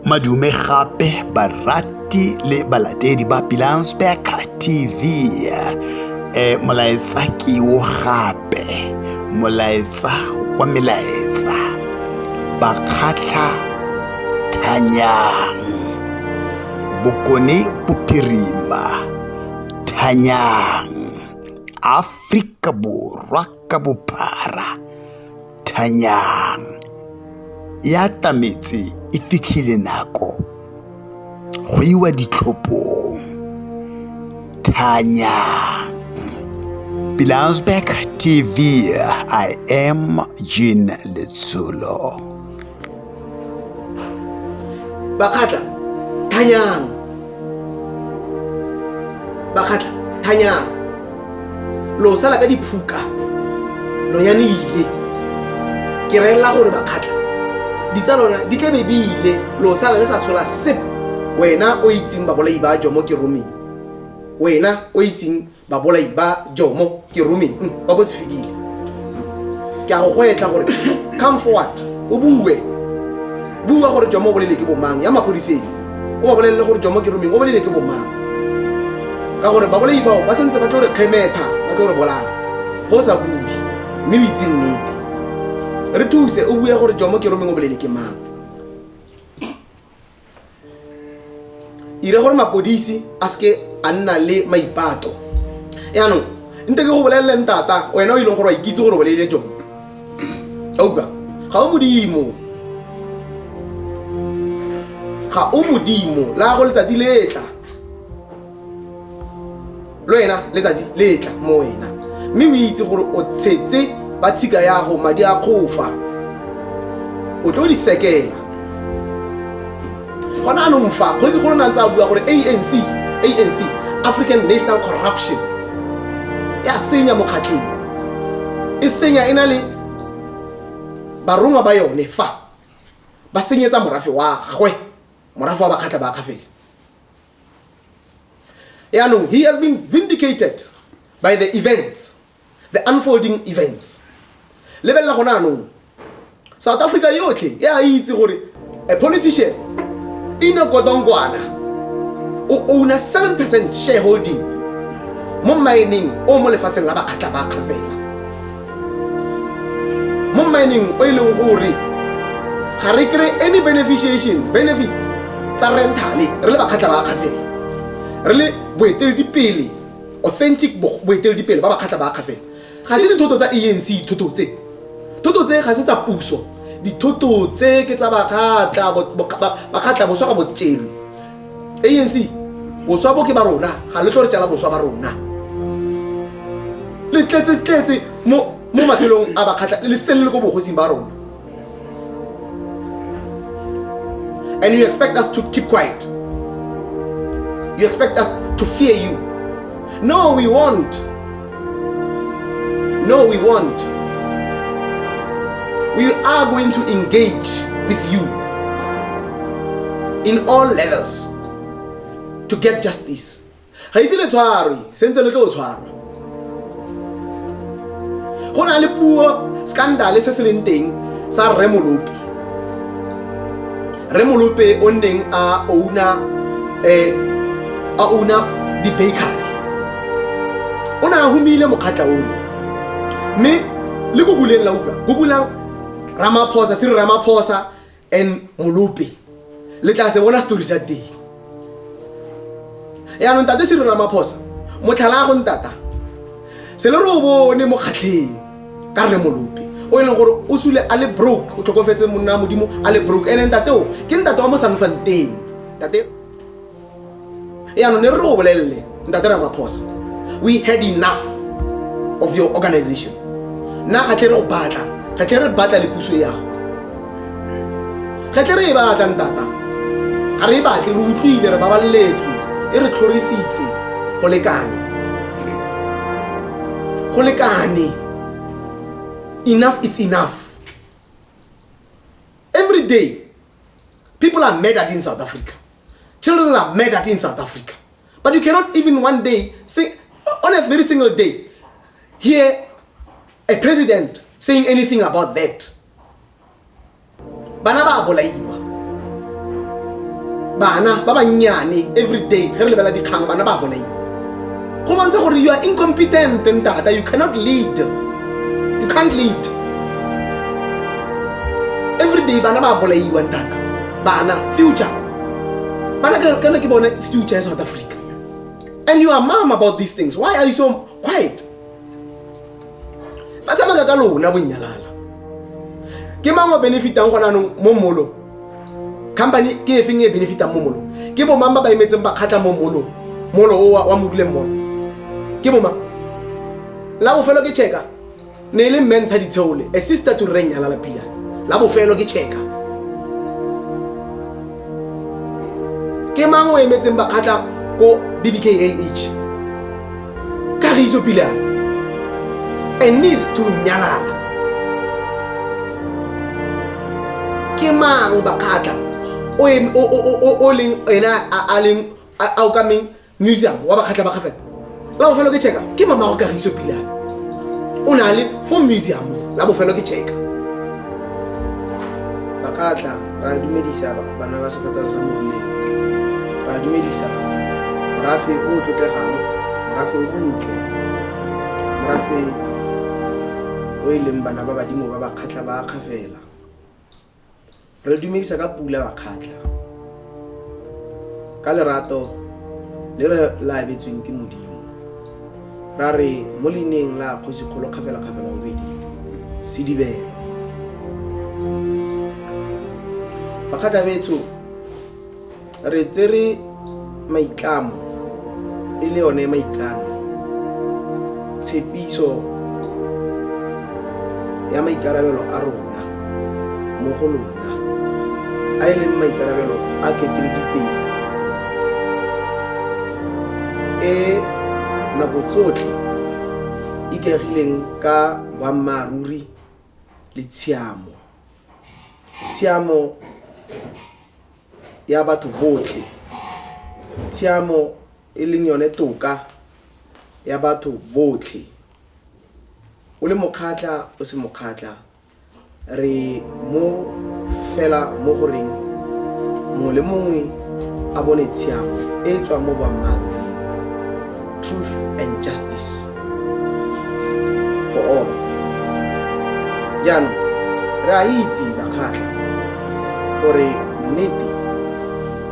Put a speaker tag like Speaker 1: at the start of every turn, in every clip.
Speaker 1: Madume gape barati le balatedi ba Pilansberg TV. E molaetsa ke o gape, molaetsa wa melaetsa. Bakgatlha thanyang. Bokone bophirima thanyang. Afrika Borwa ka bophara. thanyang ya tametse e fitlhile nako go iwa ditlhophong thanyang Bilansberg TV I am Jean Letsulo
Speaker 2: bakgatla thanyang bakgatla thanyang lo sala ka diphuka lo ya ne ile ke relela gore bakgatla ditsa lona di tlabe di ile lo sala le sa tshola sep wena o itseng babolai ba jo mo ke romeng wena o itseng babolai ba jomo ke romeng mm, ba bo se fedile ke a go go etla gore come forward o bue bua gore jomo o bolele ke bomang ya maphodiseng o ba bolelele gore jomo ke romeng o bolele ke bomang ka gore babolai bao ba santse ba tlo re kgemetha ba tlo re bolaya go sa bue mme o itse nnete re thuse o bue gore jomo ke romeng o bolele ke mang ire gore mapodisi a seke a nna le maipato yaanong nte ke go bolelele ntata wena o e leng gore wa ikitse gore boleile jone auka ga o modimo ga o modimo la go letsatsi letla lo ena letsatsi le tla mo wena mme o itse gore o tshetse ba tshika yago madi a kgofa o tlo di sekela gona anong fa kgosi golo na ntse a bua gore anc anc african national corruption ya senya mokgatlheng e senya e na le barongwa ba yone fa ba senyetsa morafe wa gwe morafe wa bakgatlha ba kgafele yaanong he has been vindicated by the events the unfolding events lebelela gona anong south africa yotlhe e a itse gore a politician in a kodongwana o owna 7 percent shareholding mo mining o mo lefatsheng la bakgatla ba kgafela mo mining o e leng gore ga re kry any beneficiation benefits tsa rentale re le bakgatlha ba akgafela re le boeteledipele authentic boeteledipele ba bakgatlha ba akgafela ga se dithoto tsa anc dithoto tse thoto tse ga se tsa puso dithoto tse ke tsa bakgatlha bakgatlha boswa ga botšelwe anc boswa bo ke ba rona ga le tlo re tsala boswa ba rona le tletse-tletse mo matshelong a bakgatlha le sele le ko bogosing ba rona and you expect us to keep quiet you expect us to fear you no we want No, we won't. We are going to engage with you in all levels to get justice. ga ise le tshwarwe sentse le tlo tshwarwa go na le puo scandale se se leng teng sa rremolopi Rre Molope o nneng a ouna eh, a ouna di-bakery o ne a humile mokgatla o ne mme le ko buleng la utlwa ko bulang ramaphosa se re ramaphosa and molope le tla se bona setori sa teng yaanong tate se rona maphosa motlhala a go ntata se le re o bone mo kgatlheng ka rre molope o e leng gore o sule a le broke o tlhokofetse monna wa modimo a le broke ene ntate o ke ntate wa mo sanfanteng tate yaanong ne re re o bolelele Ntatera Maphosa, we had enough of your organization. Na ga tle re go batla, ga tle re batla le puso ya go. Ga tle re e batla ntata. Ga re e batle re utlwile re babaletswe, e re tlhorisitse go lekane. Go lekane. Enough it's enough. Every day people are murdered in South Africa. Children are murdered in South Africa. But you cannot even one day, sing, on a very single day, hear a president saying anything about that. Bana ba bolaiwa. Bana ba bannyane every day ge re lebela dikgang bana ba bolaiwa. Go bontsha gore you are incompetent ntata you cannot lead. You can't lead. Every day bana ba bolaiwa ntata. Bana future But I cannot keep on future in South Africa. And you are mom about these things. Why are you so quiet? Ba tsamaya ka lona bonyalala. Ke mang o benefitang gona no mo molo? Company ke efeng e benefitang mo molo? Ke bo mang ba ba emetseng ba khatla mo molo? Molo o wa mo duleng molo. Ke bo mang? La bofelo ke checka. ne e le mme ntsha ditsheole a sister to reng nyalala pila la bofelo ke checka ke mang o emetseng bakgatla ko bbkah ka re itso pila a needs to nyalala ke mang bakgatla o leng ena a leng a okameng museum wa bakgatlha ba gafela la bofelo ke checka ke mamago kagiso pilane o na le fo museum la bofelo ke checka ba ka tla ra dumedisa bana ba sefatang sa morileng ra dumedisa morafe o o tlotlegang morafe o montle morafe o e leng bana ba badimo ba ba kgatlha ba kgafela Re dumedisa ka pula bakgatlha ka lerato le re la abetsweng ke modimo ra re mo leineng la kgosi kgolo kgafela kgafela bobedi sedibelo bakgatlha betsho re tsere maitlamo e le yone maikano tshepiso ya maikarabelo a rona mo go lona a e leng maikarabelo a keteledipele e nako tsotlhe ikaegileng ka boammaaruri le tshiamo tshiamo ya batho botlhe, tshiamo e leng yone toka ya batho botlhe. O le mokgatlha o se mokgatlha, re mo fela mo goreng mongwe le mongwe a bone tshiamo e e tswang mo boammaaruri, truth and justice. for all jaanong re a itse bakgatlha gore nnete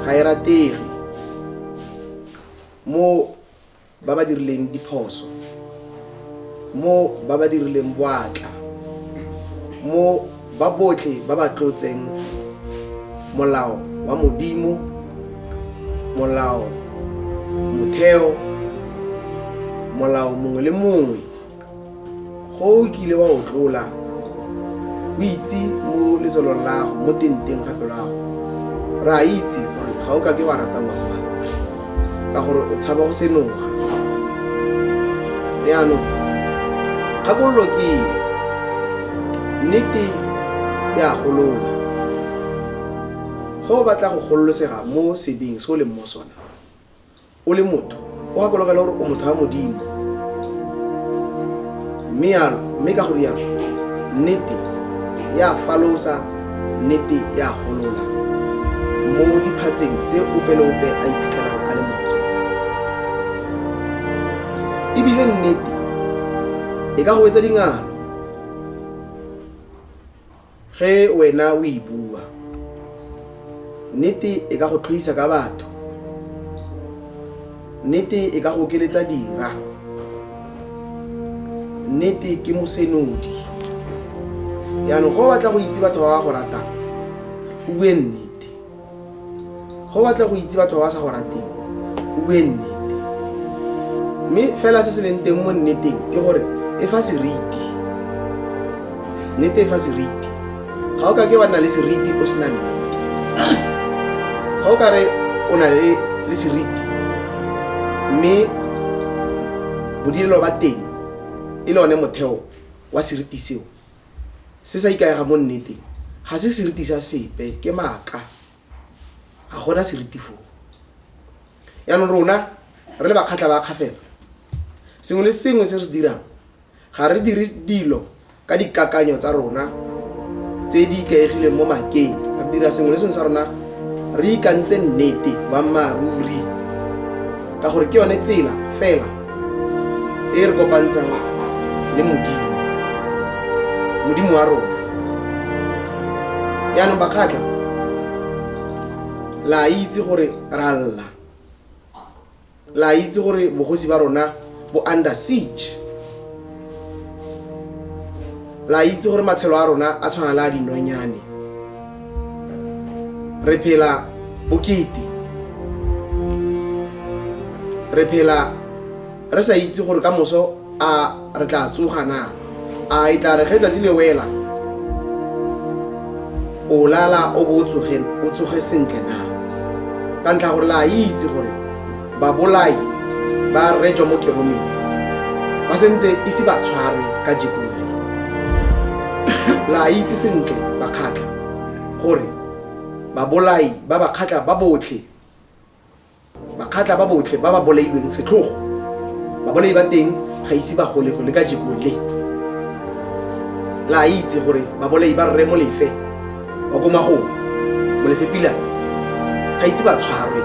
Speaker 2: ga e ratege mo ba ba dirileng diphoso mo ba ba dirileng boatla mo ba botlhe ba ba tlotseng molao wa modimo molao motheo molao mongwe le mongwe go o kile wa o tlola o itse mo letsolong lago mo tenteng gape lago re a itse gore ga o ka ke wa rata ngwana ka gore o tshaba go senoga yaanong kgakololo ke eng nnete e a golola go o batla go gololosega mo sebeng se o leng mo sona o le motho o gakologela gore o motho wa modimo mme yalo mme ka gore yalo nnete ya falosa Nnete e a golola. Mo diphatseng tse ope le ope a iphitlhelang a le mo go tsone. Ebile nnete e ka go etsa dingalo ge wena o e bua. Nnete e ka go tlhoisa ka batho. nnete e ka go okeletsa dira nnete ke mosenodi yaanong go batla go itse batho ba ba go ratang o bue nnete go batla go itse batho ba ba sa go rateng o bue nnete mme fela se se leng teng mo nneteng ke gore e fa seriti nnete e fa seriti ga o ka ke wa nna le seriti o sena nnete ga o ka re o na le le seriti mme bodirelo ba teng e le one motheo wa seriti seo se sa ikaega mo nneteng ga se seriti sa sepe ke maaka ga gona seriti foo yaanong rona re le bakgatlha ba kgafela sengwe le sengwe se re se dirang Ga re dire dilo ka dikakanyo tsa rona tse di ikaegileng mo makeng. Re dira sengwe le sengwe sa rona re ikantse nnete boammaaruri ka gore ke yone tsela fela e re kopantshang le modimo modimo wa rona yaanong bakgatlha la itse gore ra lla La itse gore bogosi ba rona bo under siege. La itse gore matshelo a rona a tshwana le a dinonyane. Re phela bokete. Re phela re sa itse gore ka moso a re tla tsoga na a e tla re ge tsatsi le wela o lala o bo o tsoge o tsoge sentle na ka ntlha gore la itse gore babolai ba rejwa mo keromeng ba sentse ise ba tshwarwe ka jekole la itse sentle bakgatlha gore babolai ba bakgatlha ba botlhe bakgatla ba botlhe ba ba bolailweng setlhogo babolai ba teng ga ise ba gole go le ka jekong le la a itse gore babolai ba rre molefe ba ko magong molefe pila ga ise ba tshwarwe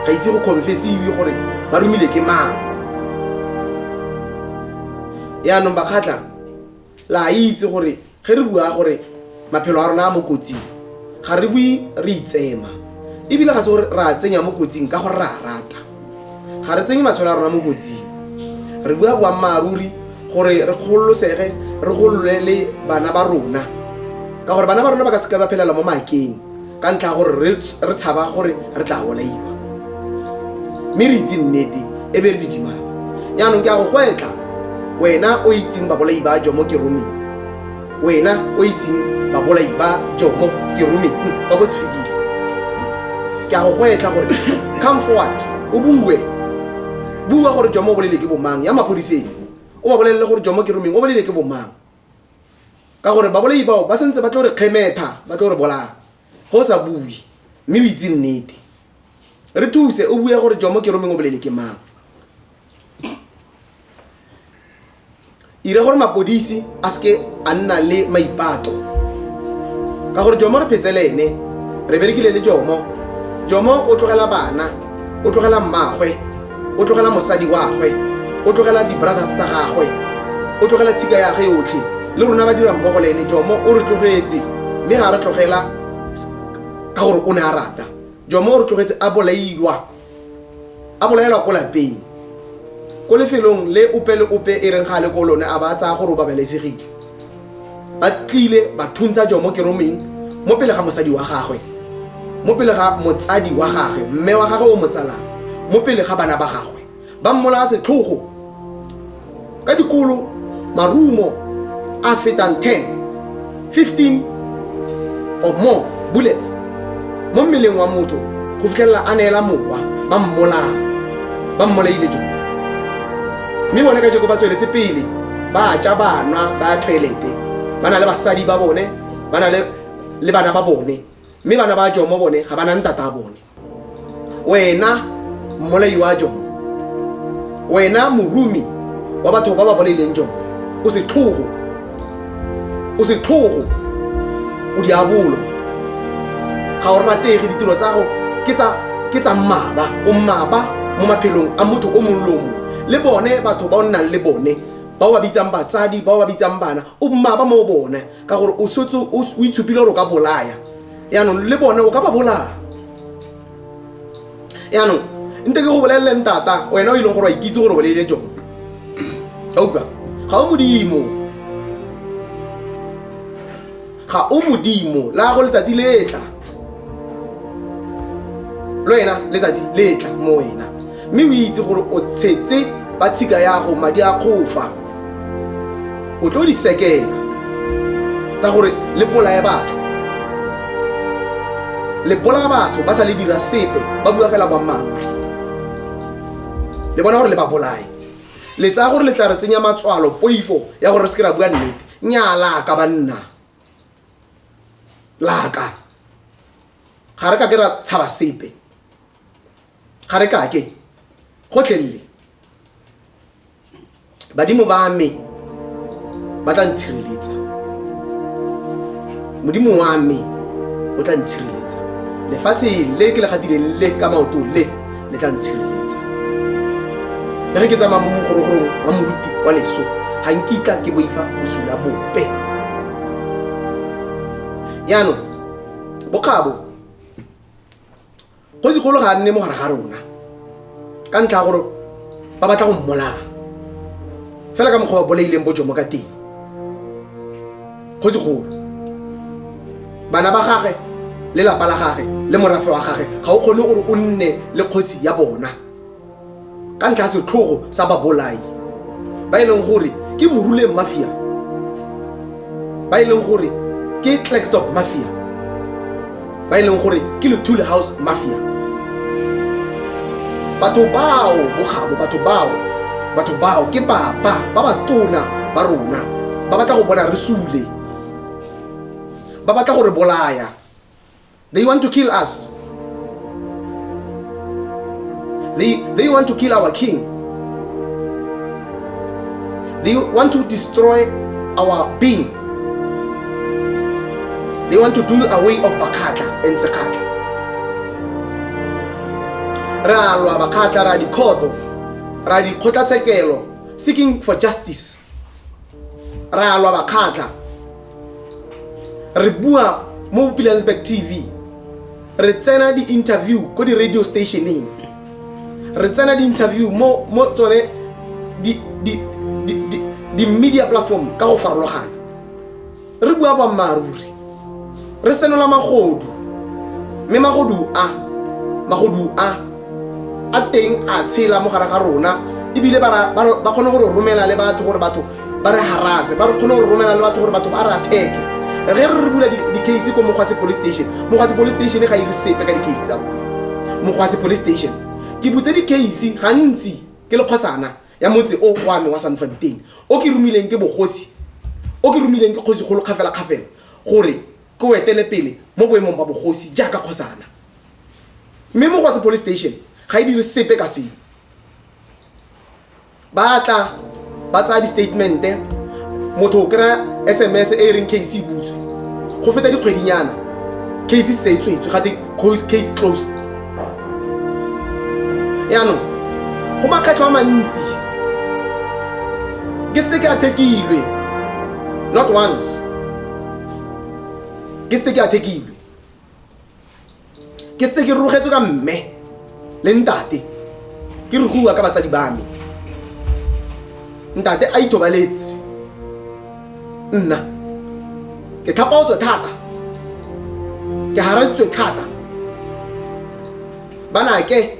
Speaker 2: ga ise go confesiwe gore ba romile ke mang yaanong bakgatla la itse gore ge re bua gore maphelo a rona a mo kotsing ga re bue re itsema ebile ga se gore re a tsenya mo kotsing ka gore re a rata ga re tsenye matshelo a rona mo kotsing re bua boammaaruri gore re kgololosege re golole le bana ba rona ka gore bana ba rona ba ka seka ba phelela mo makeng ka ntlha gore re tshaba gore re tla bolaiwa mme re itse nnete e be re di dimana yaanong ke a go gwetla wena o itseng babolai ba jomo ke romeng wena o itseng babolai ba jomo ke romeng ba bo se fedile ke a go gwetla gore come forward o bue bua gore jomo o bolele ke bomang ya maphodiseng o ba bolelele gore jomo ke romeng o bolele ke bomang ka gore babolai bao ba sentse ba tlo re kgemetha ba tlo re bolaya go sa bue mme o itse nnete re thuse o bue gore jomo ke romeng o bolele ke mang ire gore mapodisi a seke a nna le maipato ka gore jomo re phetse le ene re berekile le jomo jomo o tlogela bana o tlogela mmagwe o tlogela mosadi wagwe o tlogela di-brothers tsa gagwe o tlogela tshika yage yotlhe le rona ba dira mmogo le ene jomo o re tlogetse mme ga re tlogela ka gore o ne a rata jomo o re tlogetse a bolailwa a bolaelwa ko lapeng ko lefelong le ope le ope e reng ga le ko lone a ba a tsaya gore o babalesegile ba tlile ba thuntsha jo mo keromeng mo pele ga mosadi wa gagwe mo pele ga motsadi wa gagwe mme wa gagwe o motsalang mo pele ga bana ba gagwe ba mmolaya setlhogo ka dikolo marumo a fetang 10 15 or more bullets mo mmeleng wa motho go fitlhelela a neela mowa ba mmolaya ba mmolaile jo mme bone ka jeko ba tsweletse pele ba ja ba nwa ba ya toilete ba na le basadi ba bone ba na le bana ba bone mme bana ba jomo bone ga ba na ntata a bone wena mmolai wa jo wena morumi wa batho ba ba bolaileng jo o setlhogo o setlhogo o diabolo ga o ratege ditiro tsa go ke tsa ke tsa mmaba o mmaba mo maphelong a motho o mongwe le o mongwe le bone batho ba o nnang le bone ba o ba bitsang batsadi ba o ba bitsang bana o mmaba mo bone ka gore o setse o o itshupile gore o ka bolaya yaanong le bone o ka ba bolaya yaanong nte ke go bolelele ntata wena o e leng gore wa ikitse gore bolele jone auka ga o modimo ga o modimo la go letsatsi letla le wena letsatsi letla mo wena mme o itse gore o tshetse ba tshika yago madi a kgofa o tlo di sekela tsa gore le bolaye batho le bolaya batho ba sa le dira sepe ba bua fela boammaaruri le bona gore le ba bolaye le tsaya gore le tla re tsenya matswalo poifo ya gore re seke ra bua nnete nyaa laka banna laka ga re ka ke ra tshaba sepe ga re kake gotlhelele badimo ba me ba tla ntshireletsa modimo wa me o tla ntshireletsa lefatshe le ke le gatileng le ka maoto le le tla ntshireletsa le ge ke tsamaya mo mogorogorong wa moruti wa leso ga nkitla ke boifa bosula bope yaanong bokgabo go segolo ga a nne mo gare ga rona ka ntlha ya gore ba batla go mmolaya fela ka mokgwa ba bolaileng bojo mo ka teng go segolo bana ba gage le lapa la gage le morafe wa gage ga o kgone gore o nne le kgosi ya bona ka ntlha setlhogo sa babolai ba e leng gore ke moruleng mafia ba e leng gore ke clackstop mafia ba e leng gore ke lethule house mafia batho bao bokgabo batho bao batho bao ke papa ba ba tona ba rona ba batla go bona re sule ba batla go re bolaya They want to kill us. They, they want to kill our king. They want to destroy our being. They want to do away of Bakata and Sakata. Ra lwa Bakata, ra dikhoto, ra dikgotlatshekelo, seeking for justice. re a lwa bakgatlha re bua mo bopilansburg tv re tsena di-interview ko di-radio stationeng re tsena di-interview mo mo tsone di- di- di- di- di-media platform ka go farologana re bua boammaaruri re senola magodu mme magodu a magodu a a teng a tshela mo gare ga rona ebile ba ra- ba ra- ba kgone gore romela le batho gore batho ba re harase ba re kgone gore romela le batho gore batho ba re atheke re re re bula di- di-case ko mogwase police station mogwase police station ga e re sepe ka di-case tsa rona mogwase police station ke butse di-case gantsi ke le kgosana ya motse o wa me wa sanfanteng o ke romileng ke bogosi o ke romileng ke kgosi kgolo kgafela kgafela gore ke o etele pele mo boemong ba bogosi jaaka kgosana mme mo go se police station ga e dire sepe ka seo ba tla ba tsaya di-statemente motho o kry-a sms e e reng case e butswe go feta dikgwedinyana case se tswetswe gate case closed yaanong go makgetlho a mantsi ke setse ke athekilwe not once ke setse ke athekilwe ke setse ke rogetswe ka mme le ntate ke re go bua ka batsadi ba me ntate a ithobaletse nna ke tlhapaotswe thata ke harasitswe thata bana ke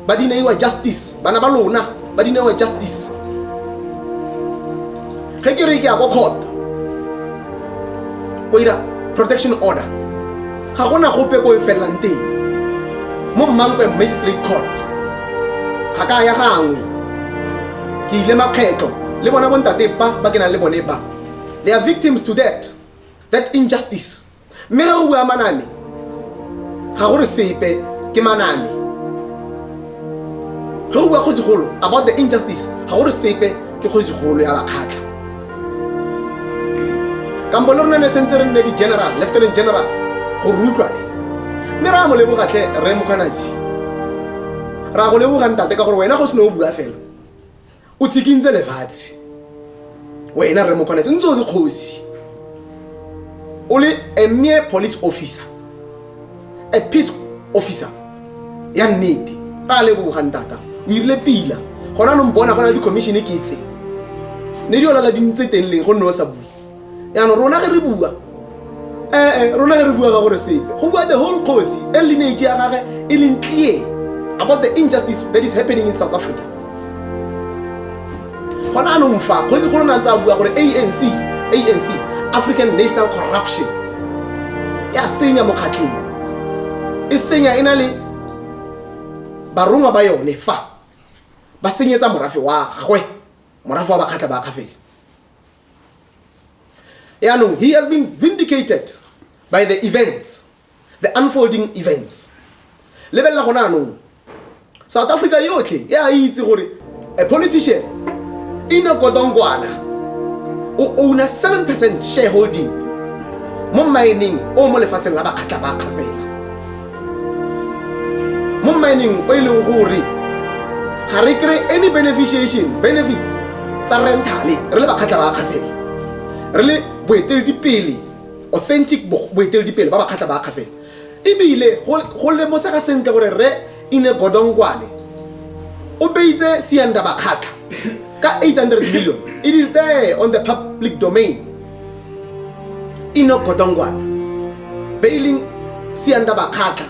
Speaker 2: ba dineiwa justice bana ba lona ba dineiwa justice ge ke re ke ya ko court ko ira protection order ga gona gope ko e felelang teng mo mmankwe magistrate court ga ka ya gangwe ke ile makgetlho le bona bontate ba ba ke nang le bone ba they are victims to that that injustice mme re go bua maname ga gore sepe ke maname ge o bua kgosigolo about the injustice ga gore sepe ke kgosigolo ya bakgatlha kampo le rona ne tshwanetse re nne di-general lieutenant general go rutlwane mme ra mo lebogatlhe re mokgwanasi ra go leboga ntate ka gore wena go se ne o bua fela o tsikintse lefatshe wena rre mokgwanetse o ntse o se kgosi o le a mere police officer a peace officer ya nnete ra a lebogang tata o irile pila gona nong bona go na le di-commissione ke tse ne di olala di ntse teng leng go nne o sa bue yaanong rona ge re bua ee eh, eh, rona ge re bua ka gore sepe go bua the whole cosi e lineage ya gage e leng clear about the injustice that is happening in south africa gona anong fa kgosi golo na ntse a bua gore anc anc african national corruption ya senya mokgatlheng e senya e na le barongwa ba yone fa ba senyetsa morafe wa gwe morafe wa bakgatlha ba kgafele yaanong he has been vindicated by the events the unfolding events lebelela gona anong south africa yotlhe e a itse gore a politician ina kodongwana o owna 7 percent shareholding mo mining o mo lefatsheng la bakgatlha ba kgafela mo mining o e leng gore ga re kry any beneficiation benefits tsa rentale re le bakgatlha ba akgafela re le boeteledipele authentic boeteledipele ba bakgatlha ba akgafela ebile go lemosega sentle gore re ine godongwane o beitse sianda bakgatlha ka 800 million it is there on the public domain ino kodongwana bailing sianda bakgatlha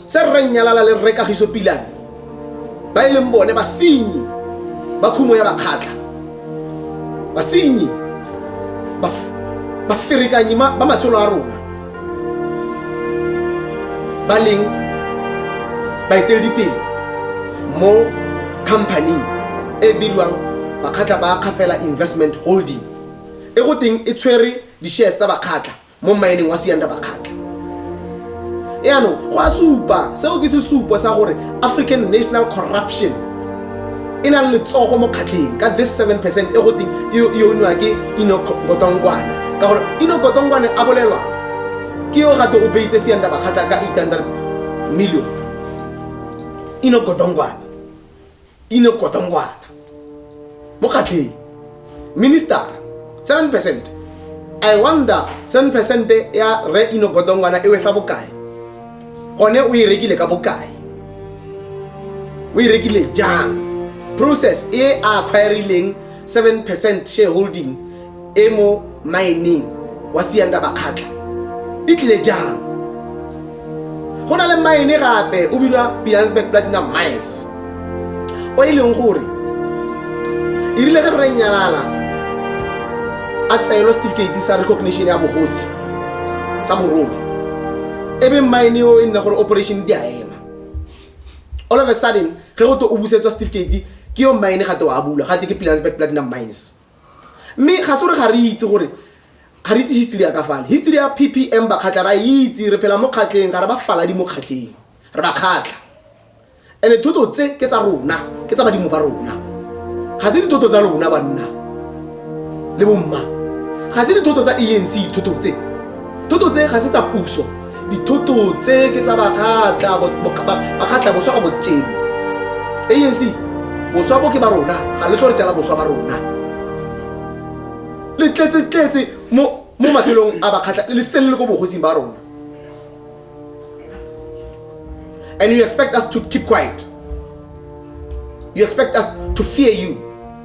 Speaker 2: se rre nnyalala le rre kagiso pilane ba e leng bone basenyi ba khumo ya bakgatlha basenyi baferekanyi ba matshelo a rona ba leng baeteledipele mo companyng e bidiwang bakgatlha ba kgafela investment holding e go teng e tshwere di-shares tsa bakgatla mo mmaeneng wa sianda bakgatla yaanong go a supa seo ke sesupo sa gore african national corruption e na le letsogo mo kgatlheng ka this seven percent e go teng e e oniwa ke ino kotongkwane ka gore ino kotongkwane a bolelwang ke yo gate o beitse sianda bakgatla ka 800 million ino kotongkwane e ne kota ngwana mo kgatlheng minister 7 percent i wonder 7 percent ya re ino kota ngwana e wetla bokae gone o e rekile ka bokae o e rekile jang process e a acquirileng 7 percent shareholding e mo maeneng wa sianda bakgatla e tlile jang go na le maene gape o bilwa pilansburg platinum mines o e leng gore e rile ge re nyalala a tseelo setefikeiti sa recognition ya bogosi sa borongwe e be maene o e nne gore operation di a ema all of a sudden ge go to o busetswa setefikeiti ke yo maene gate wa bula gate ke pilansburg platinum mines mme ga se gore ga re itse gore ga re itse history ya ka fale history ya ppm bakgatlha ra itse re phela mo kgatlheng ga re ba fala di mo kgatlheng re ba kgatlha and-e thoto tse ke tsa rona ke tsa badimo ba rona ga se dithoto tsa lona banna le bomma ga se dithoto tsa anc thoto tse thoto tse ga se tsa puso dithoto tse ke tsa bakgatla bakgatla boswa ka botšebo anc boswa bo ke ba rona ga le tlo re tsela boswa ba rona le tletsetletse mo matshelong a bakgatla le sele le ko bogosing ba rona and you expect us to keep quiet you expect us to fear you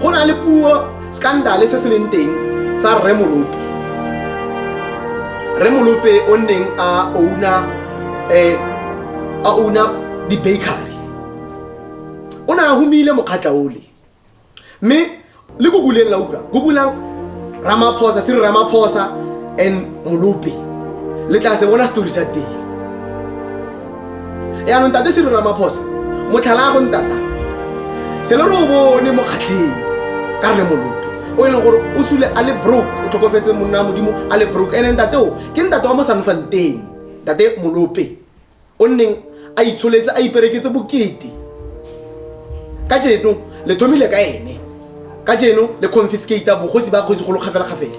Speaker 2: go na le puo scandale se se leng teng sa rre molope rre molope o nneng a ouna eh, a ouna di-bakery o ne a humile mokgatla ole mme le ko buleng la utlwa ko bulang ramaphosa se re ramaphosa and molope le tla se bona setori sa teng yaanong tate selo ramaphosa motlhala a go ntata se le re o bone mo kgatlheng ka rre molope o e leng gore o sule a le broke o tlhokofetse monna wa modimo a le broke ene ntate o ke ntate wa mo sanfanteng ntate molope o nneng a itsholetse a ipereketse bokete ka jeno le thomile ka ene ka jeno le confiscata bogosi ba kgosi golo kgafela-kgafela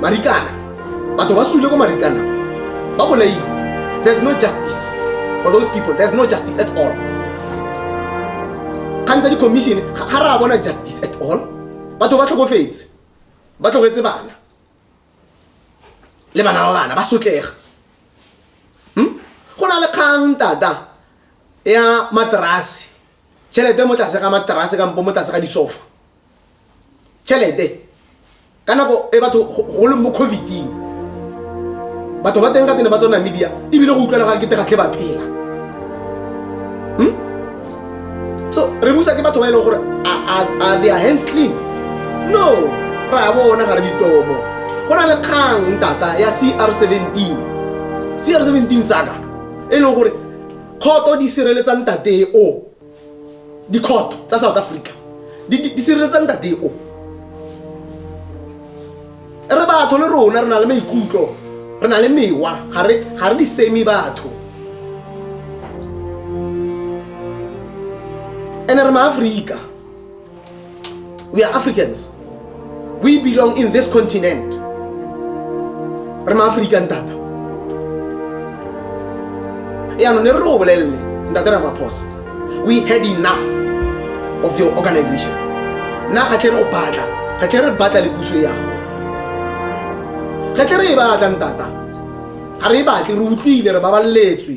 Speaker 2: marikana batho ba sule ko marikana ba bolaile there's no justice for those people there's no justice at all kgantsa di-commission ga ga ra bona justice at all batho ba tlhokofetse ba tlogetse bana le bana ba bana ba sotlega Hmm? go na le kgang tata ya materase tšhelete mo tlase ga materase kampo mo tlase ga disofa tšhelete ka nako e batho go leng mo coviding batho ba teng ka tene ba tswa namibia ebile go utlwela ga kete gatlhe ba phela hmm? so re busa ke batho ba e leng gore a they are hands clean no ra bona ga re ditomo go na le kgang tata ya cr 17 cr 17 saka e leng gore kgoto di sireletsa ntate o dikhoto tsa south africa di sireletsa ntate o re batho le rona re na le maikutlo re na le mewa ga re di seme batho ene re maaforika we are africans we belong in this continent re maafrika ntata yaanong ne re re o bolelele ntate ramaphosa we had enough of your organization nna ga tle re go batla ga tle re batla le puso ya gago ga tle re e batla ntata ga re e batle re utlwile re babaletswe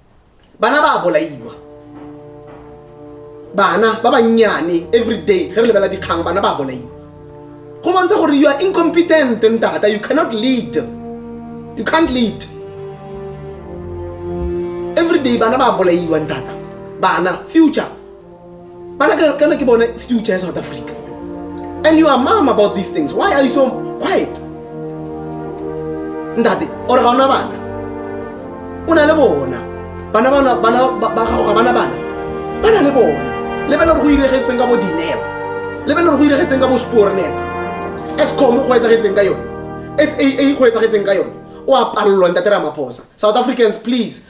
Speaker 2: bana ba bolaiwa bana ba bannyane everyday ge re lebela dikgang bana ba bolaiwa go bontsha gore you are incompetent ntata you cannot lead you can't lead everyday bana ba bolaiwa ntata bana future But I can I keep on future in South Africa. And you are mom about these things. Why are you so quiet? Ndati, or ga una bana. Una le bona. Bana bana bana ba gago ga bana bana. Bana le bona. Lebela go iregetseng ka bo dineo. Lebela go iregetseng ka bo spornet. Escom go etsagetseng ka yone. SAA go etsagetseng ka yone. O a palelwa ntate Ramaphosa. South Africans please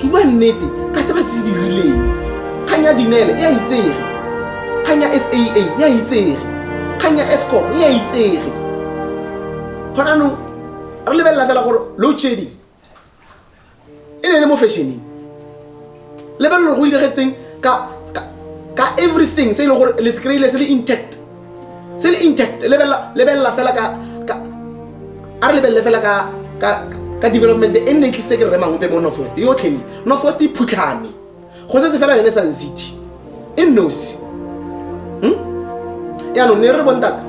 Speaker 2: ke bua nnete ka se ba se dirileng kgang ya dinele e a itsege kgang ya saa e a itsege kgang ya escom e a itsege gona anong re lebelela fela gore load shedding e ne e le mo fashioneng lebelelo go diragetseng ka ka- ka everything se e leng gore le se kry-ile se le intact se le intact lebelela fela ka a re lebelele fela ka development e nne e tlisitse ke remang ope mo northwest e yotlhe me northwest e phutlhame go setse fela yone sun city e nnosi hmm? yaanong ne re bontaka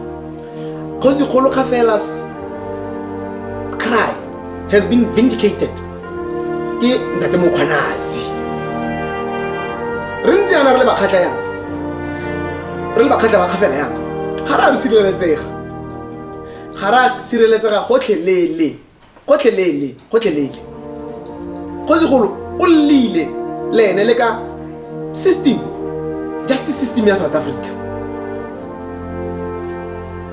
Speaker 2: kgosi kgolo ga fela cry has been vindicated ke ntate mokgwanazi re ntse yana re le bakgatlha yana re le bakgatlha ba kgafela yana ga re a re sireletsega ga re a sireletsega gotlhelele gotlhelele gotlhelele go segolo o lleile le ene le ka system justice system ya south africa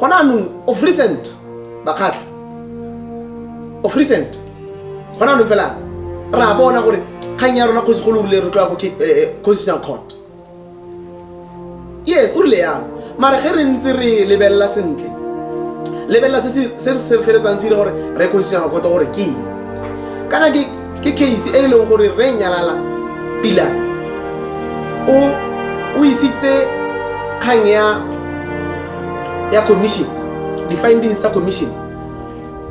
Speaker 2: gona anong of recent bakgatlha of recent gona anong fela ra bona gore kgang ya rona kgosi go lorile re tloya ko eh, eh, constitutional court yes o rile yalo mara ge re ntse re lebelela sentle lebelela se se feletsang se ile gore re constitutional court gore ke eng kana ke ke case e e leng gore re nyalala pila o o isitse kgang ya ya commission di-findings tsa commission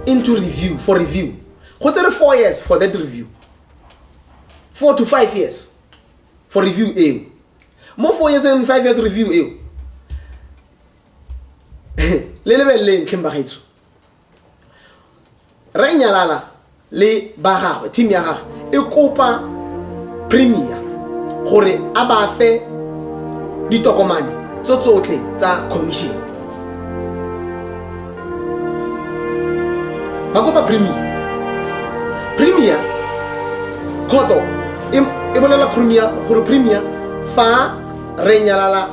Speaker 2: into review for review go tsere four years for that review four to five years for review eo mo four years and five years review eo le lebeleleng tlheng bagaetsho re nyalala le ba gagwe team ya gagwe e kopa premier gore a ba fe ditokomane tso tsotlhe tsa commission ba kopa premier premier khoto e e bolela premier gore premier fa re nyalala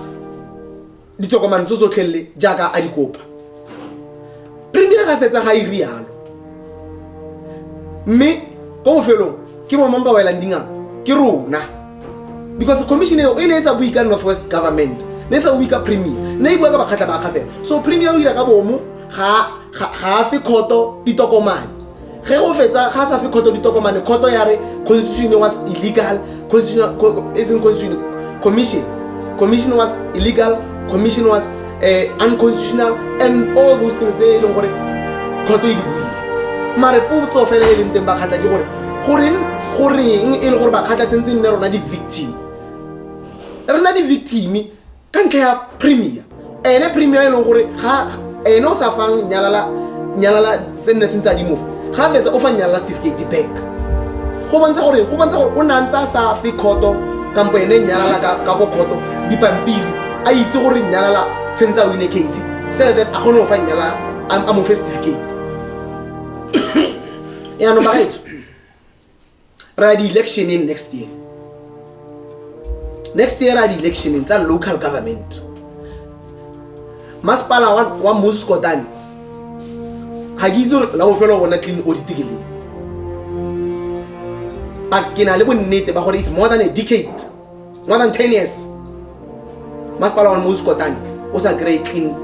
Speaker 2: ditokomane tso tsotlhelele jaaka a di kopa premier ga fetsa ga e rialo mme ko bofelong ke bomang ba welang dingaka ke rona because commission eo e ne e sa bue ka north west government ne e sa bue ka premier ne e bua ka bakgatlha ba kgafela so premier o dira ka bomo ga a fe kgoto ditokomane ge go fetsa ga sa fe kgoto ditokomane kgoto ya re constitution was illegal isn't constitution commission commission was illegal commission was uh, unconstitutional and all those things tse e leng gore kgoto e di buile mare potso fela e leng teng bakgatlha ke gore goreng goreng e le gore bakgatlha tshentse nne rona di-victim rona di-victime ka ntlha ya premier ene premier e leng gore ga ene o sa fang nyalala nyalala tse nne sentse a dimofa ga fetsa o fa nyalala certificate back go bontsha gore go bontsha gore o ne a ntse a sa fe khoto kampo ene nyalala ka ka ko khoto dipampiri a itse gore nyalala tshwentse a wine case so that a kgone go fa nyalala a a mo fe certificate yaanong bagaetso ra di electioneng next year next year ra di electioneng tsa local government masepala wa, wa moscotane ga ke itse gore la bofelo bona clean audit ke leng but ke na le bonnete ba gore is more than a decade more than 10 years masepala wa mosi kotane o sa kry clean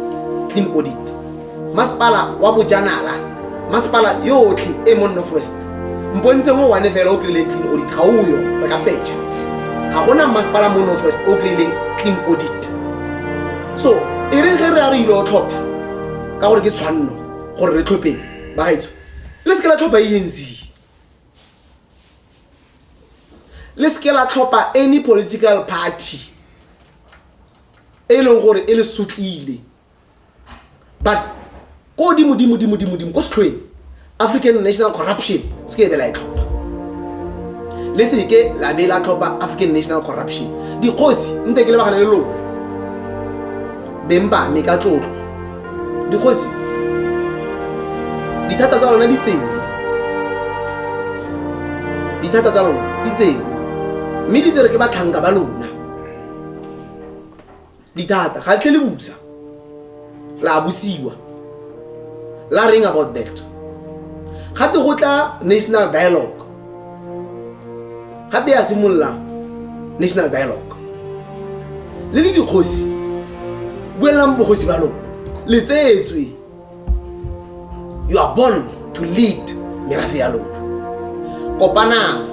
Speaker 2: clean audit masepala wa bojanala masepala yotlhe e mo north west mpontseng o one fela o kry-ileng clean audit ga oyo re ka peja ga gona masepala mo north west o kry-ileng clean audit so e reng ge re a re ile o tlhopha ka gore ke tshwanno gore re tlhopheng ba gaetso le se ke la tlhopha e enzile le seke la tlhopha any political party e leng gore e le sutlile but ko godimo dimo dimo dimo dimo ko setlhoeng african national corruption se ke ebe la e tlhopha le seke la be la tlhopha african national corruption dikgosi nte ke lebagane le lone beng ba me ka tlotlo dikgosi dithata tsa lona di tsene dithata tsa lona di tsene mme di tsere ke batlhanka ba lona dithata ga tlhe le busa la busiwa la reng about that ga te go tla national dialogue gate ya simolola national dialogue le le dikgosi buelelang bogosi ba lona le tseetswe you are born to lead merafe ya lona kopanang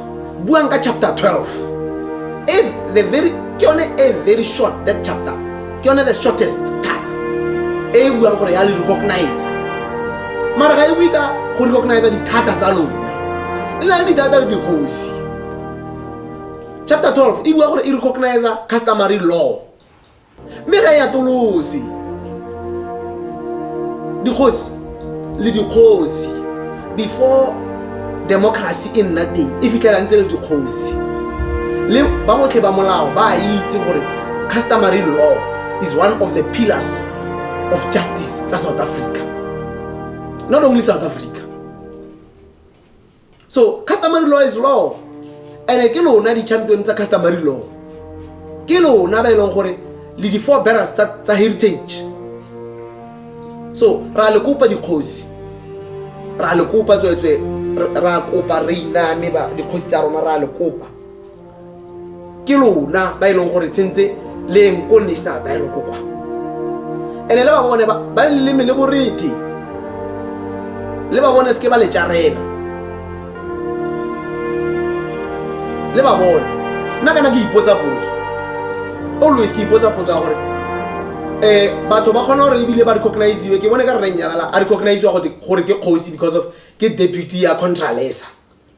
Speaker 2: buang ka chapter 12 e the very ke yone e very short that chapter ke yone the shortest tap e e buang gore ya le recognize mara ga e bue ka go recognize dithata tsa lona le na le dithata le dikgosi chapter 12 e bua gore e recognize customary law mme ga e atolose dikgosi le dikgosi before democracy e nna teng e fitlhela ntse le dikgosi le ba botlhe ba molao ba a itse gore customary law is one of the pillars of justice tsa south africa not only south africa so customary law is law and-e ke lona di-champion tsa customary law ke lona ba e leng gore le di-four barrels tsa heritage so ra le kopa dikgosi ra le kopa tsweetswe ra kopa re iname dikgosi tsa rona ra le kopa ke lona ba e leng gore tshentse le eng ko national dialogue kwa ene le ba bone ba ba le leleme le boredi le ba bone seke ba le tjarela le ba bone nna kana ke ipotsa potso always ke ipotsa potso ya gore um batho ba kgona gore ebile ba recogniziwe ke bone ka rre nyalala a recogniziwa gote- gore ke kgosi because of ke deputy ya contralesa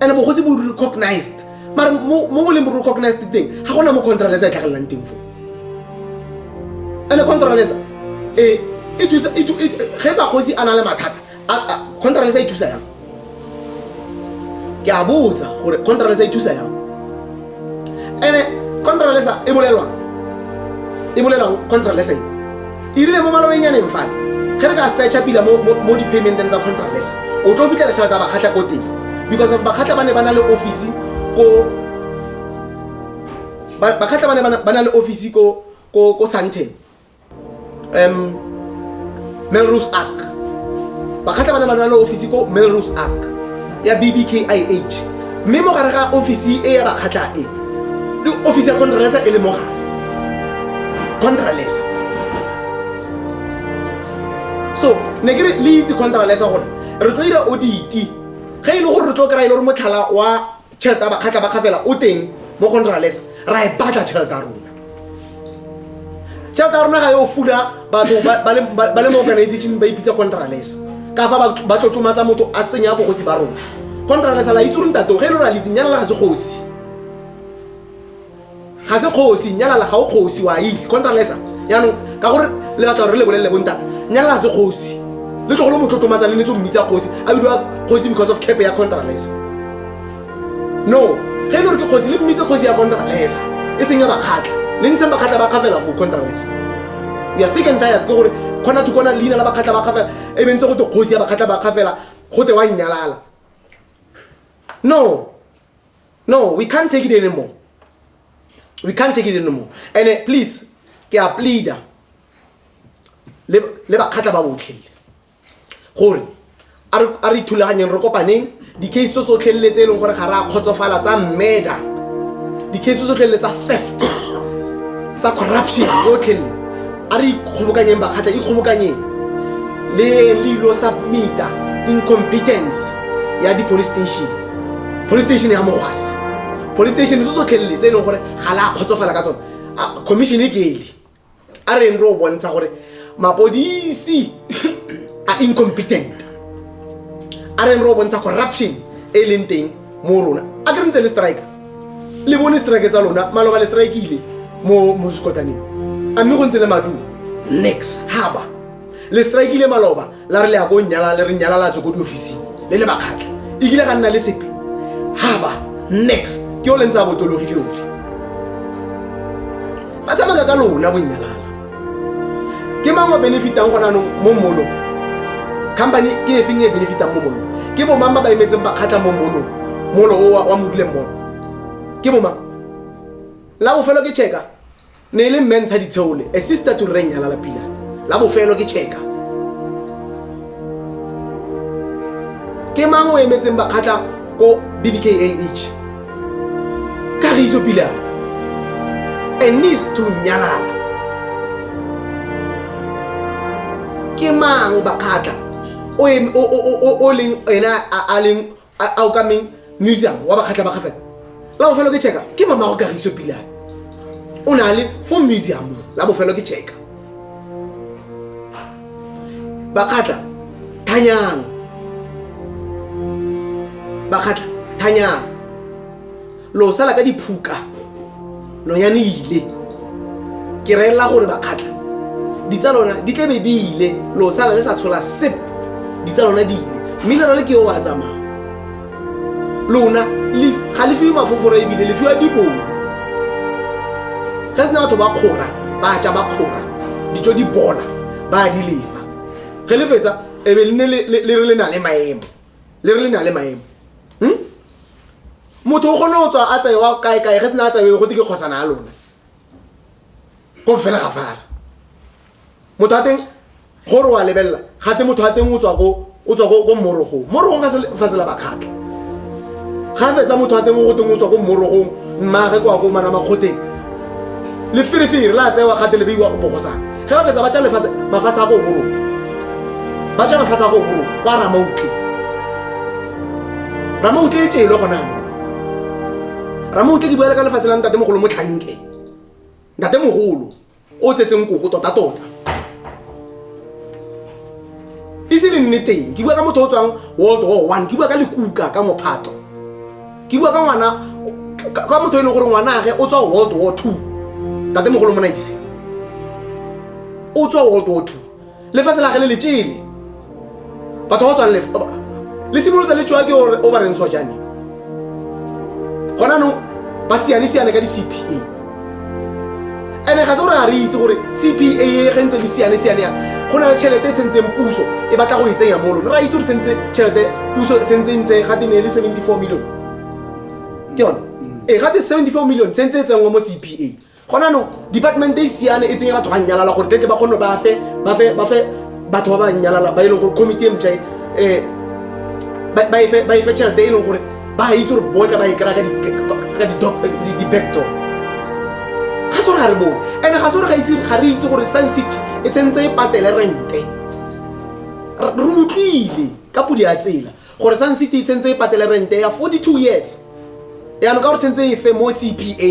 Speaker 2: and bogosi bo recognized mara mo mo leng bo recognized teng ga gona mo contralesa e tlhagelelang teng fo and contralesa e e thusa e tu- e tu- ge bagosi a na le mathata a- a- contralesa e thusa yang ke a botsa gore contralesa e thusa yang ene contra lesa e bolelwang e bolelwang contra lesa e e rile mo malobeng ya neng fale ge re ka searcha pila mo mo- mo di-paymenteng tsa contra lesa o tlo fitlhela tšhelete ya bakgatlha ko teng because of bakgatlha ba ne ba na le office ko ba- bakgatlha ba ne ba na- ba na le office ko ko ko santen um melrose ark bakgatlha ba le bana le office ko melrose ark ya bbkih mme mo gare ga office e ya bakgatlha e le office ya contralesa e le mo gare contralesa so ne ke re le itse contralesa gore re tlo dira oditi ge e le gore re tlo kry-a e le gore motlhala wa tšhelete ya bakgatlha ba kgafela o teng mo go nrales ra e batla tšhelete ya rona tšhelete ya rona ga yo fula batho ba le mo organization ba ipitsa contrales ka fa ba tlotlomatsa motho a senya bogosi ba rona contrales la itse rong tato ge e lo raliseng nyana la ga segosi ga se kgosi nyalala ga o kgosi wa itse contralesa yaanong ka gore le batla gore le bolelele bonta nyalala se kgosi le tlogolo motlotlomatsa le netse mmitsa kgosi a bidiwa kgosi because of cape ya contralesa no ge e le gore ke kgosi le mmitse kgosi ya contralesa e seng ya bakgatlha le ntsheng bakgatlha ba kgafela for contralesa ya second tired ke gore kgona to kona leina la bakgatlha ba kgafela e bentse go te kgosi ya bakgatlha ba kgafela go te wa nnyalala no no we can't take it anymore we can't take it anymore and uh, please ke a pleader le bakgatla ba botlhele gore a re ithulaganyeng re kopaneng di-case tso tsotlhelele tse e leng gore ga re a kgotsofala tsa mmeda di-case tso tsotlhelele tsa theft tsa corruption yotlhelele A re ikgobokanyeng bakgatla, ikgobokanyeng le le ilo submita incompetence ya di-police station. Police station ya mogwasi. Police station se tsotlhelele tse e leng gore ga la kgotsofala ka tsone. A commission e kele. A reng re o bontsha gore mapodisi a incompetent. A reng re o bontsha corruption e e leng teng mo rona a ke re ntse le strike le bone strike tsa lona maloba le strike ile mo mo sekotaneng a mme go ntse le maduo nix haba le strike ile maloba la re le ya ko nyala le re nyala la tswe ko diofising le le bakgatlha e kile ga nna le sepe haba nix ke o le ntse a botologile ole ba tsamaya ka lona bonyalala ke mang o benefitang gona anong mo mmolong company ke e feng e benefitang mo molong ke bomang ba ba emetseng ba kgatlha mo molong molo o wa moduleng molo ke bomang la bofelo ke checka ne e le mme ntsha ditsheole a sister to reng yalala pila la bofelo ke checka ke mang o emetseng ba kgatlha ko bbkah kagiso pele a and needs to nyalala ke mang bakgatla o em- o- o- o- o- o leng ena a- a leng a a okameng museum wa bakgatla ba gafela la bofelo ke checka ke mamago kagiso pila o na le fo museum la bofelo ke checka bakgatla thanyang bakgatla thanyang lo sala ka diphuka lo ya ile ke reela gore bakgatla ditsa lona di tlabe di ile lo sala le sa tshola sep ditsa lona di ile mme le rale ke yo wa tsamaya lona ga le fiwe mafofora ebile le fiwa dibodu ge se na batho ba kgora ba ja ba kgora dijo di bona ba di lesa ge le fetsa e be lene le re le na le maemo le re le na le maemo hmm? motho o kgone go tswa a tsaewa kaekae ge se na a tsaewe go te ke kgosana ya lona ko fela ga fara motho a teng gore wa lebelela gate motho a teng o tswa ko mmorogong mmorogong fa sela bakgatlha ga fetsa motho a teng o go teng o tswa ko mmorogong mmaage kwa ko mana makgoteng leferefere la tsewa gate le beiwa bogosana ge ba fetsa ba tsa lefatshe mafatshe a ko borong ba tsa mafatshe a ko borong kwa ramautle ramautle e tšele gona ramautle ke buele ka lefatshe la ntate mogolo motlhanke ntate mogolo o tsetse nkoko totatota e se le nneteng ke bua ka motho o tswang world war one ke bua ka lekuka ka mophato ke bua ka ngwana ka motho e leng gore ngwanage o tswa world war two tatemogolo monaise o tswa world war two lefatshe la ge le letsele batho ba tswang lefa le simolotsa le tswa ke o ba reng sojane gona no ba siane siane ka di-cpa ene ga se gore ga re itse gore cpa e ge ntse le siane siane ya go na le tšhelete e tshentseng puso e batla go e tsenya mo lone ra itse gore tsentse tšhelete puso e tshentseng ntse ga te ne le 74 million ke yone ee ga te 74 million tsentse e tsenngwa mo cpa gona no department e siane e tsenye batho ba nyalala gore tleke ba kgone ba fe ba fe ba fe batho ba ba nyalala ba e leng gore committee e mtšha e ba e fe ba e fe tšhelete e leng gore ba itse gore botle ba e kry-a ka di-backdoor ga se gore ga re bone and ga se gore ga re itse gore sun city e tshentse e patele rente re utlwile ka podi ya tsela gore sun city e tshentse e patele rente ya 42 years yaanong ka gore tshentse e fe mo cpa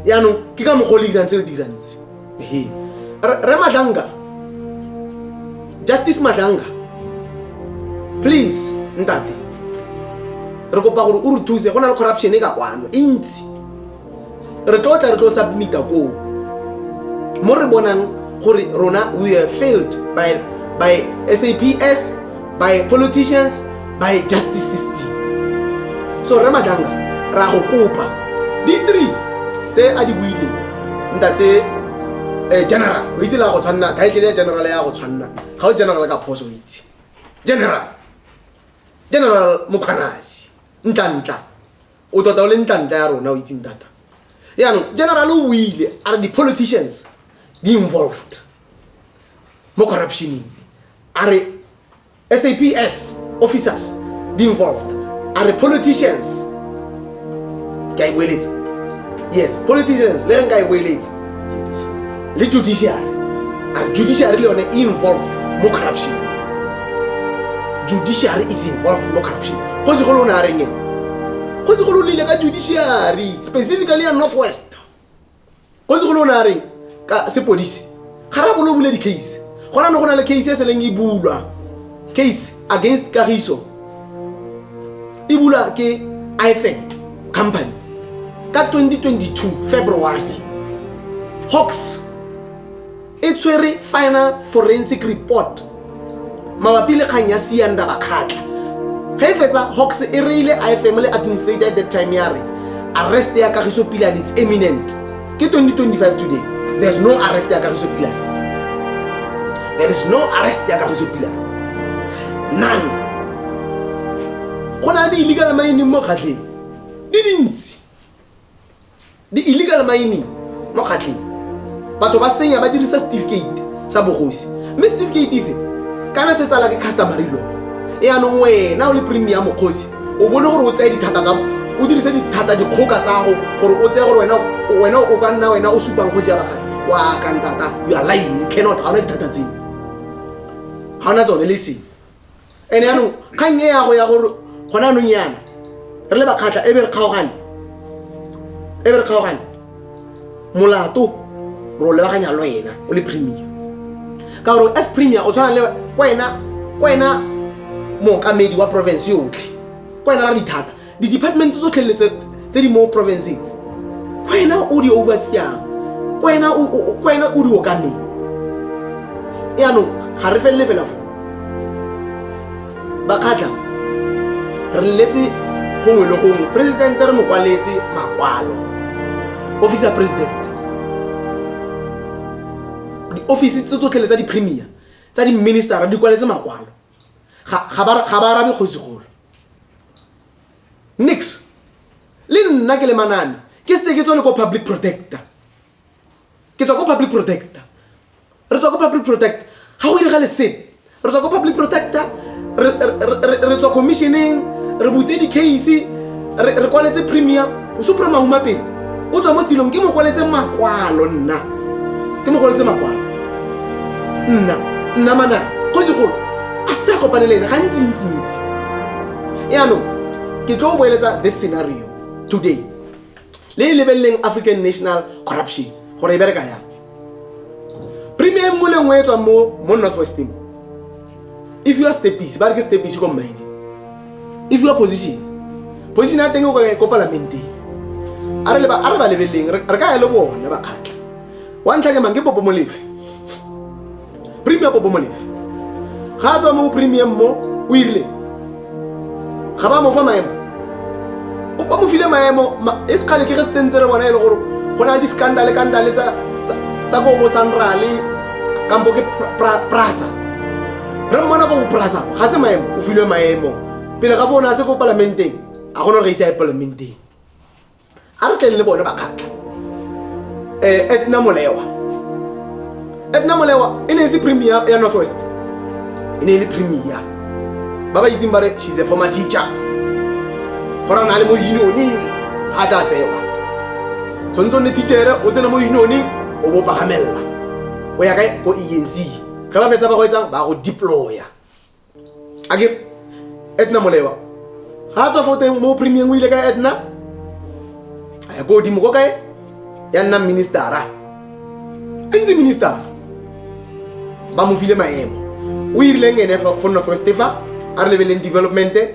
Speaker 2: yaanong ke ka mokgwa o le dirang tse le dirantse re madlanga justice madlanga please ntate re kopa gore o re thuse go na le corruption e ka kwano e ntsi re tlo tla re tlo submita koo mo re bonang gore rona we are failed by, by saps by politicians by justice system so re matlanga ra go kopa di-three tse a di buileng ntate um general o itse le ya go tshwanna title ya general ya go tshwanna ga o general ka phoso o itse general general mokgwanasi ntla ntla o tota o le ntlantla ya rona o itseng thata yaanong general o buile a re di-politicians di involved mo corruptioneng a re saps officers di involved a re politicians ke a e boeletsa yes politicians le ge nka e boeletsa le judiciary a re judiciary le yone e involved mo corruption judiciary is involved mo corruption go se go le o ne a reng eng go se go le o lile ka judiciary specifically ya north west go se go le o ne a reng ka sepodisi ga ra bolo o bule di-case gona ne go na le case e seleng e bulwa case against kagiso e bula ke ifm company ka 2022 february hawks e tshwere final forensic report mabapi le kgang ya sianda bakgatla ge e fetsa hawks e reile ifm le administrator at that time ya re arrest ya kagiso pila and its eminent Ke 2025 today. There's no arrest ya Kagiso Pila. There is no arrest ya Kagiso Pila. None. Go na le di-illegal mining mo kgatlheng. Di dintsi. Di-illegal mining mo kgatlheng. Batho ba senya ba dirisa certificate. sa bogosi mme certificate se kana se tsala ke customary law e anong wena o le premium mokgosi o bone gore o tseye dithata tsa o dirise dithata dikgoka tsago gore o tseye gore wena wena o ka nna wena o supang kgosi ya bakgatlhi wa kantata you are lying you cannot ga ona dithata tseo ga ona tsone le seng ene yaanong kgang e yago ya gore gona anong yana re le bakgatlha e be re kgaogane e be re kgaogane molato re o lebaganya lo ena o le premier ka gore as premier o tshwana le kwena kwena mookamedi wa province yotlhe kwena ra dithata Di-department tsotlhe le tse di mo provinceng kwena o di overseang kwena kwena o di okameng yaanong ga re felele fela fo bakgatlha re leletse gongwe le gongwe presidente re mo kwaletse makwalo office ya president di-office tse tsotlhele tsa di-premier tsa di-ministera di kwaletse makwalo ga ba arabe kgosigolo nix le nna ke le manane ke setse ke tsone ko public protector ke tswa ko public protector re tswa ko public protector ga go direga lesete re tswa ko public protector re tswa commissioneng re butse di-case re kwaletse premium o supra mauma pele o tswa mo setilong ke mokwaletse makwalo nna ke mokwaletse makwalo nna nna manana go segolo a se kopane le ene gantsintsintsi yaanong ke tlo o boeletsa this scenario today le e lebeleleng african national corruption gore e bereka yang premier mo le nngwe e tswang mo mo north west mo if you are stepisi ba re ke stepisi ko mmine if you are position position ya teng o kore ko palamenteng a re ba a re ba lebeleng re ka ya le bone ba khatla wa ntlha ke mang ke popo molefe premium bo bomalefi ga a tswa mo premium mo o irile ga ba mo fa maemo o mo file maemo e sekgale ke re se tsentse re bona e le gore go na le di-scandale kandale tsa ko bo sanrale kampo ke prasa re mmona ko bo prasa ga se maemo o filwe maemo pele ga fo o ne a se ko palamenteng a gona gore ga ise a ye palamenteng a re tleng le bone bakgatlha um eh, etna molewa etna molewa e ne e se premier ya north west e ne e le premier ba ba itseng ba re she's a former teacher go ra na le mo unioning ga tla tsewa tshwanetse o nne teachere o tsena mo unioning o bo pagamelela o ya kae ko enc ga ba fetsa ba go etsang ba go deploya a ke edna molewa ga a tswa fo teng mo premieng o ile ka edna a ya ko godimo ko kae ya nnang ministera e ntse ministera ba mo file maemo o irileng ene fo northwest fa a re lebeleng developmente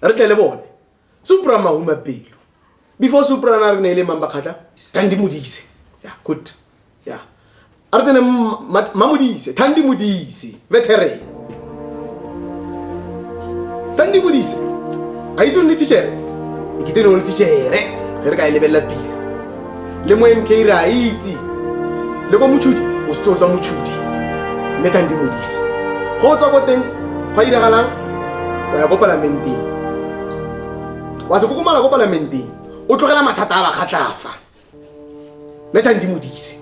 Speaker 2: re tle le bone supra mahuma pelo before supra na re ne e le mang bakgatla thandi modise ya good ya a re tsene mamodise thandi modise veteran thandi modise a itse o nne tichere e kete ne o le tichere ge re ka e lebelela pele le mo mk re a itse le ko motshudi o setse o tswa motshudi mme tlang di modise go o tswa ko teng go a diragalang o ya ko palamenteng wa se kokomala ko palamenteng o tlogela mathata a bakgatlafa mme tlang di modise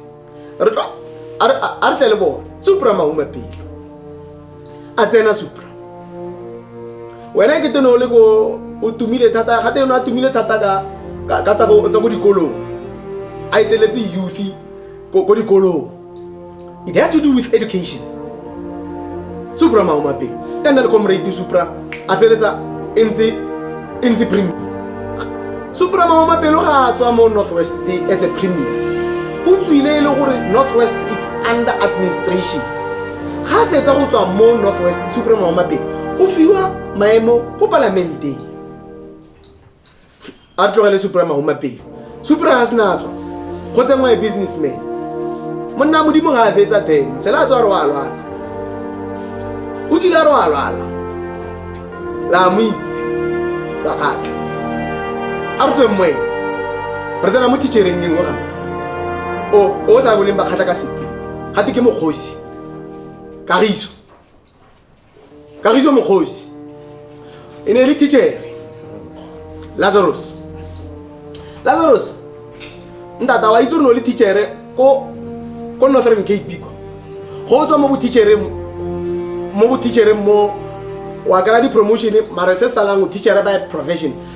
Speaker 2: re tlo a re- a re tle le bone supra mauma pele a tsena supra wena ke tene o le ko o tumile thata ga tene a tumile thata ka ka- ka tsa ko tsa ko dikolong a eteletse youth ko ko dikolong it has to do with education supra maomape ya nna le comrade supra a feletsa e ntse e ntse premier supra maomapelo ga a tswa mo north west as a premier o tswile e le gore north west is under administration ga a fetsa go tswa mo north west supra maomapelo o fiwa maemo ko palamenteng a re tlogele supra mahuma pele supra ga se na tswa go tsenngwa e businessman monna modimo ga a fetsa demo sela a tswa re wa lwala o tsile a re wa lwala la mo itse la kgatlha a re tsweng moeng re tsena mo teachereng e nngwe gape o o sa boleng bakgatlha ka sepe gate ke mokgosi kagiso kagiso mokgosi e ne e le tichere lazarus lazarus ntata wa itse o ne o le tichere ko ko northern cape kwa go tswa mo botichereng mo botichereng mo wa kry-a di-promotion mare se salang o teachere by profession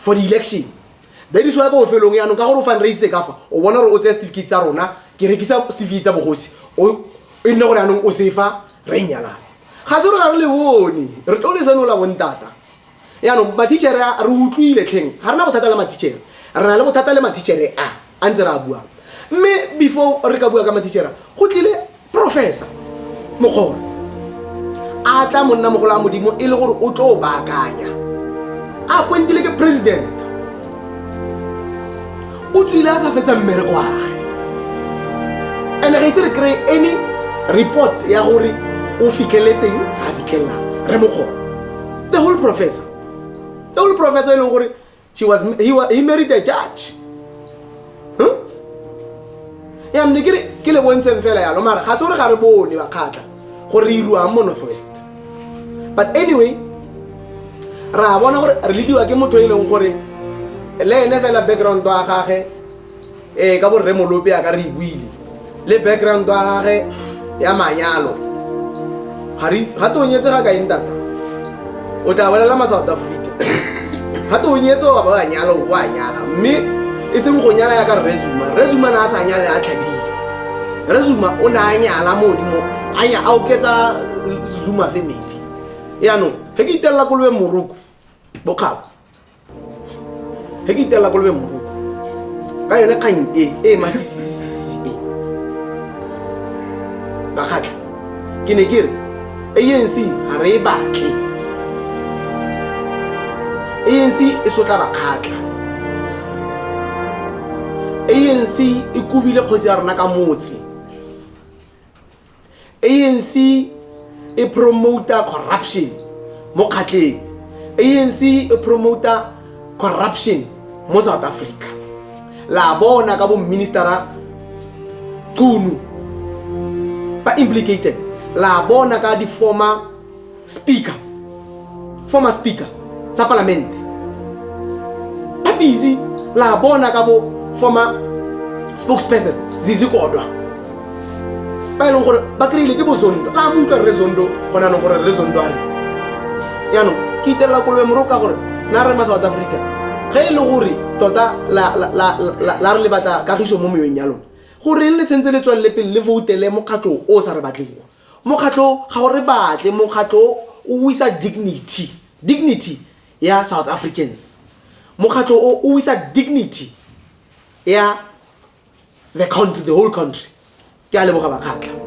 Speaker 2: for the election that is why ko bofelong yaanong ka gore o fundraise ka fa o bona gore o tseye certificate tsa rona ke rekisa certificate tsa bogosi e nne gore yaanong o sefa re e nyalana ga se gore ga re le bone re tlo le senola bontata yaanong matichere re utlwile tlheng ga re na bothata le matichere re na le bothata le matichere a a ntse re a buang mme before re ka bua ka matichere go tlile professor mogolo a tla monna mogolo a modimo e le gore o tlo o baakanya a appointile ke president o tswile a sa fetsa mmereko wage and ga ise re kry any report ya gore o fitlheletseng ga a fitlhelelang re mogolo the whole professor the whole professor e leng gore she was he, wa- he married a judge Huh? ya mne ke re ke le bontseng fela yalo mara ga se gore ga re bone bakgatla gore re iruang mo northwest but anyway ra bona gore re lediwa ke motho e leng gore le ene fela background wa gage ee ka borre molope a ka re buile le background wa gage ya manyalo ga tonyetse ga kaeng tata o tla bolela ma south africa ga tonyetse wa ba wa nyala o a nyala mme e seng go nyala ya ka resuma resuma na a sa nyale a tlhadile resuma o ne a nyala mo godimo a oketsa zuma family yaanong ge ke itelela kolobeng moroko bokgabo ge ke itelela kolobe mogoko ka yone kgang e e masisisi e ka kgatlha ke ne ke re anc ga re e batle anc e sotla bakgatlha anc e kobile kgosi ya rona ka motse anc e promota corruption mo kgatleng anc e promota corruption mo south africa la bona ka boministera qunu ba implicated la bona ka di-former speaker former speaker sa palamente ba busy la bona ka bo former spokesperson zizi kodwa ba e leng gore ba kry-ile ke bozondo la mo utlwa re zondo gone anong gore re zondo are yaanong ke itelela kolobe moro ka gore na re ma south africa ge e le gore tota la re le batla kagiso mo meyong ya lone goreng le tshwentse le tswalele pele le voutele mokgatlho o o sa re batleng mokgatlho ga o re batle mokgatlho o wisa dignity dignity ya south africans mokgatlho o o wisa dignity ya the country the whole country ke a leboga bakgatlha